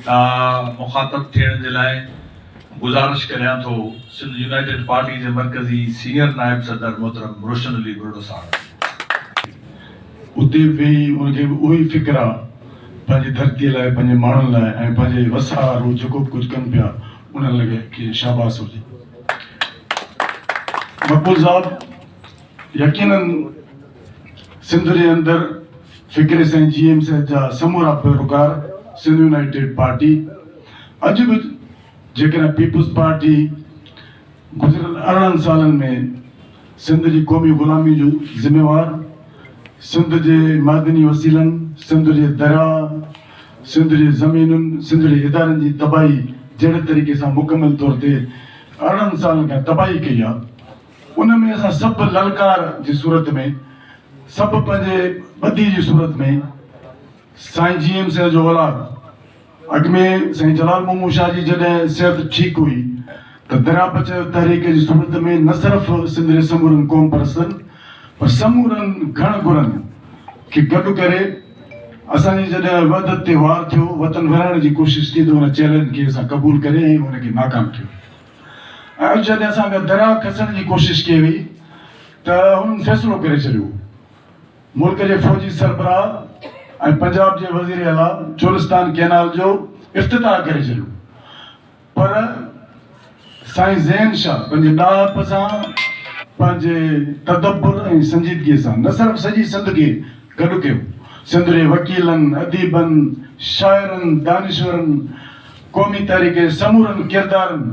کان مخاطب ٿيڻ جي لاء گذارش ڪريان ٿو سنڌ يونائيٽيڊ پارٽي جي مرڪزي سينئر نائب صدر محترم روشن علي ٻرڙو صاحب اتي ويهي ان کي به اهوئي فڪر آ پنهنجي ڌرتي لاء پنهنجي ماڻهن لاء ۽ پنهنجي وسار هو جيڪو به ڪجهه ڪن پيا انهن لڳي کي شاباس هجي مقبول صاحب يقيناً سنڌ جي اندر فڪري سائين جي ايم سيد جا سمورا پيروڪار سنڌ يونائيٽيڊ پارٽي اڄ به جيڪڏهن پيپلز پارٽي گذريل ارڙهن سالن ۾ سنڌ جي قومي غلامي جو ذميوار سنڌ جي معدني وسيلن سنڌ جي درياء سنڌ جي زمينن سنڌ جي ادارن جي تباهي جهڙي طريقي سان مڪمل طور تي ارڙهن سالن کان تباهي ڪئي آهي ان ۾ اسان سڀ للڪار جي صورت ۾، سڀ پنهنجي ٻڌي جي صورت ۾، سائين جي ايم سيد جو اولاد، اڳ ۾ سائين جلال مومون شاهه جي جڏهن صحت ٺيڪ هئي ته درياپچ تحريڪ جي صورت ۾ نه صرف سنڌ جي سمورن قومپرستن پر سمورن گهڻ گهرن کي گڏ ڪري اسان جي جڏهن وحدت تي وار ٿيو، وطن ورهائڻ جي ڪوشش ٿي ته ان چئلينج کي اسان قبول ڪري ۽ ان کي ناڪام ٿيو. ۽ جڏهن اسان کان درا کسڻ جي ڪوشش ڪئي وئي ته هنن فيصلو ڪري ڇڏيو. ملڪ جي فوجي سربراهه ۽ پنجاب جي وزير اعليٰ چولستان ڪئنال جو افتتاح ڪري ڇڏيو پر سائين زين شاهه پنهنجي ڏاهپ سان، پنهنجي تدبر ۽ سنجيدگيء سان نه صرف سڄي سنڌ کي گڏ ڪيو، سنڌ جي وڪيلن، اديبن، شاعرن، دانشورن، قومي تحريڪ جي سمورن ڪردارن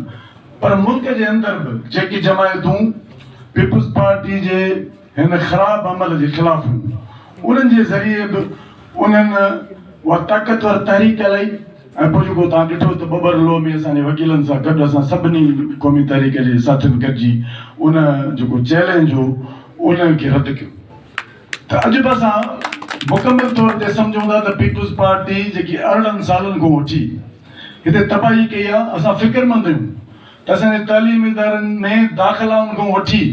پر ملڪ جي اندر به جيڪي جماعتون پيپلز پارٽي جي هن خراب عمل جي خلاف هيون انهن جي ذريعي به انهن اها طاقتور تحريڪ هلائي ۽ پوء جيڪو توهان ڏٺو ته ٻٻر لو ۾ اسان جي وڪيلن سان گڏ اسان سڀني قومي تحريڪ جي ساٿين گڏجي ان جيڪو چئلينج هو ان کي رد ڪيو. ته عجب اسان مڪمل طور تي سمجهون ٿا ته پيپلز پارٽي جيڪي ارڙهن سالن کان وٺي هتي تباهي ڪئي آهي اسان فڪرمند آهيون ته اسان جي تعليمي ادارن ۾ داخلائن کان وٺي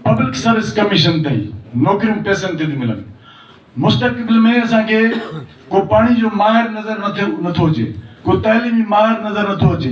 پبلڪ سروس ڪميشن تائين نوڪريون پئسن تي ٿيون ملن مستقبل ۾ اسان کي ڪو پاڻي جو ماهر نظر نٿو اچي ڪو تعليمي ماهر نظر نٿو اچي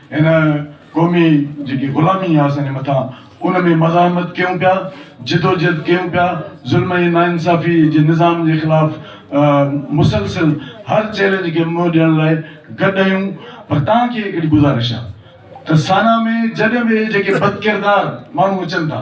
هن قومي جيڪي غلامي آهي اسان جي مٿان ان ۾ مزاحمت ڪيون پيا جدوجهد ڪيون پيا ظلم ۽ ناانصافي جي نظام جي خلاف مسلسل هر چئلينج کي منهن ڏيڻ لاء گڏ آهيون پر توهان کي هڪڙي گذارش آهي ته سانا ۾ جڏهن به جيڪي بدڪردار ماڻهو اچن ٿا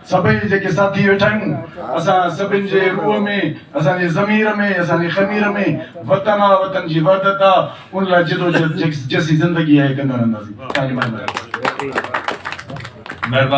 سڀئي جيڪي ساٿي ويٺا آهيون اسان سڀن جي روح ۾ اسان جي ضمير ۾ اسان جي خمير ۾ وطن آ وطن جي وحدت آ ان لاء جدوجهد جيسين زندگي آهي ڪندا رهنداسين ٿينڪ يو مهرباني.